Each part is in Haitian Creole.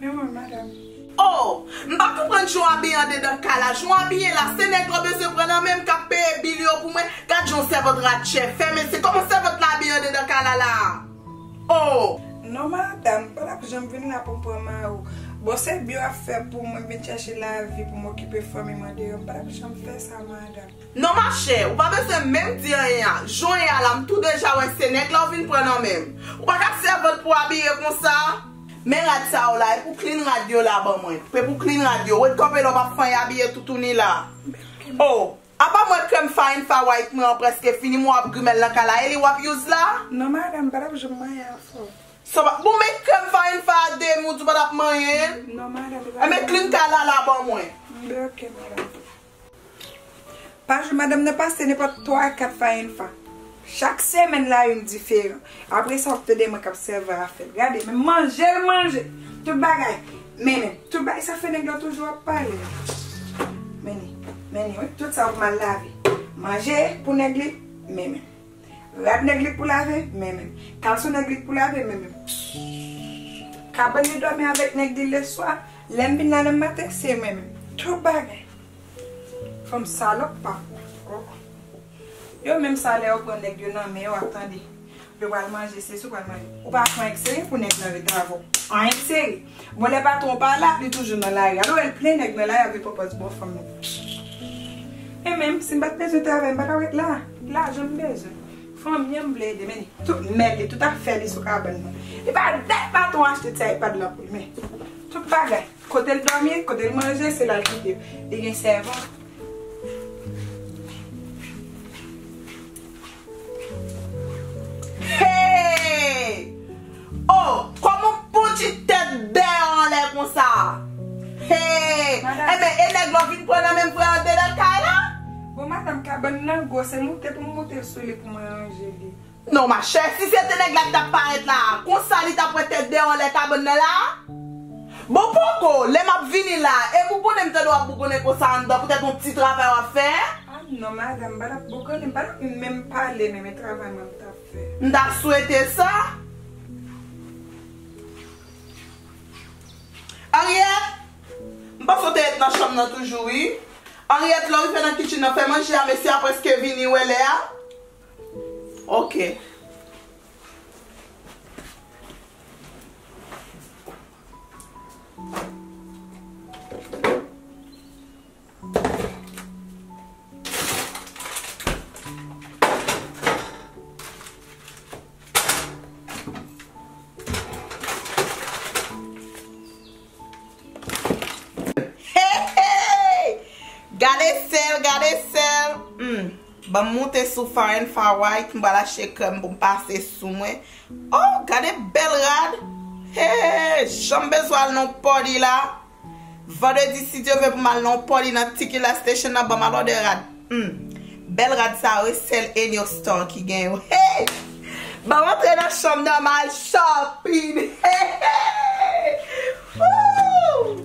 Men mwen madam. Oh! M pa konprann jan w abiye andedan kay la, jan w abiye la, se nèg lan bezwen pran nan men m k ap peye bil yo pou mwen, gad jan w sèvant ratchè, fèmen se, kòman sèvant la abiye andedan kay la la a? Oh! Non madam, m pa t ap janm vin la pou m pran mari w, bon se bi w ap fè pou mwen vin chèche lavi pou m okipe fanmi m andedan, m pa t ap janm fè sa madam. Non ma chè, ou pa bezwen menm di anyen a, jan w ye a la m tou deja wè se nèg la w vin pran nan men m. Ou pa ka sèvant pou w abiye konsa. Men rad sa yo la, e pou clean rad yo la ban mwen. Pe pou clean rad yo. Wed kanpe la w pa fanyen abiye toutouni la. Oh, apa mwen krèm farin fa white mwen an prèske fini mwen wap grimèl nan kay la, e li wap use la? Non madame, m pa tap janm manyen afè w. Sa w pa, bon men krèm farin fa a demi w di w pa tap manyen l? Non madame, li pa janm manyen. Enben clean kay la la ban mwen. Enben ok madame. Pa jou madanm nan pase nenpòt 3 a 4 fwa yn fwa. Chak semèn la youn diferan. Apre sa wap tande mwen kap sèvi a fèl. Gade menm manje l manje. Tout bagay. Mennen. Tout bagay sa fè nèg lan toujou ap pale. Mennen. Mennen wi. Tout sa wap mal lave. Manje pou nèg li. Mennen. Rad nèg li k pou lave? Menmenm. Kalson nèg li k pou lave? Menmenm. Psssss. Kabann li dòmi avèk nèg li leswa, lè m vin la nan maten, se menmenm. Twòp bagay. Fanm salòp pa pou. Oh. Yo menm sa lè yo pran nèg yo nan men yo ap tande. Yo pral manje sesi yo pral manje. Ou pa pran èk seri pou nèg nan rete avè w. An èk seri. Bon lè patron pa la li toujou nan lari alo el plen nèg nan lari ap gen pòpòz bon fanm yo e menm sim pat bezwen travay m pata ret la lajan m bezwen fanmi an m vle ede men tout mèd li tout afè li sou kabann nan li pa dat patron an achte ti aypad la pou li men tout bagay kote l domi kote l manje se la l kite yo li gen sèvan. Hey! Oh! Koman poutchi tèt bè an anlè konsa? Hey! Enben e nèg la vin pran nan menm vre andedan kay la? Bon madam kabann nan gwo se moute pou m moute sou li pou mwen ranje li. Non machè, si se te nèg la ki tap parèt la a, konsa li tap wè tèt bè an anlè kabann nan la a? Bon poko, lè map vini la a, e bougonnen m tande wap bougonnen konsa anndan poutèt yon ti travay wap fè? Ah non madame m pa tap bon konnen m pa tap menm pale menm e travay mwen m tap fè. M ta swete sa. Henriette! M panse w te ret nan chanm nan toujou wi. Henriette lè w rive nan kitchen nan fè manje a mesye a preske vini wè lè a. Ok. Gade sel, gade sel. Hmm. Ban moute sou farin faway ki mba lache krem pou mpase sou mwen. Oh, gade bel rad. He, janm bezwal non podi la. Vandredi si Dye vle pou m al nan yon party nan Tequila Station nan banm alòde rad humm bèl rad sa yo wi sèl Enio Star ki gen yo hee banm antre nan chanm nan ma al shopping heehee ooh.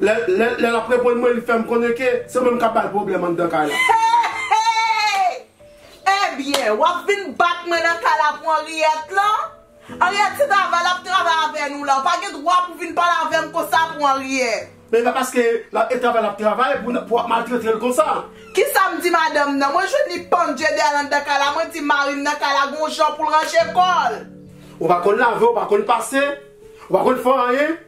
Lè lè lap reponn mwen li fèm konnen ke se mwen kap bal pwoblèm anndan kay la. Hehe! Ebyen, wap vin bat mwen nan kay la pou Henriette lan? Henriette se travay lap travay avè nou la, ou pa gen dwa pou vin pale avèm konsa pou Henriette. Men pa paske lap e travay lap travay pou pou wap maltretel konsa. Kisam di madanm nan? Mwen jwenn li pandje dèyèl anndan kay la, mwen di marim nan kay la gon jan poul ranje kòl. Ou pa konn lave, ou pa konn pase, ou pa konn fè anyen.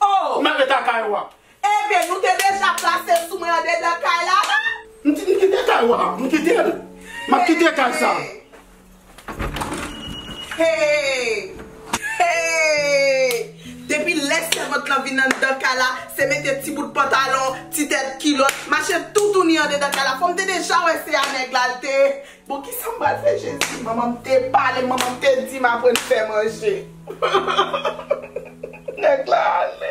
Oh! M ale ta kay wa. Eben, nou te deja plase sou mwen andedan kay la la? M t, m kite kay wa. M kite l. M ap kite kay sa. Hey! Hey! Depi lè sèvant lan vin anndan kay la, se mete ti bout pantalon, ti tèt kilòt, mache toutouni andedan kay la. Fò m te deja wè se a nèg la l te Bon kisa m pral fè jezi. Manman m te pale manman m te dim aprann fè manje nèg la ale.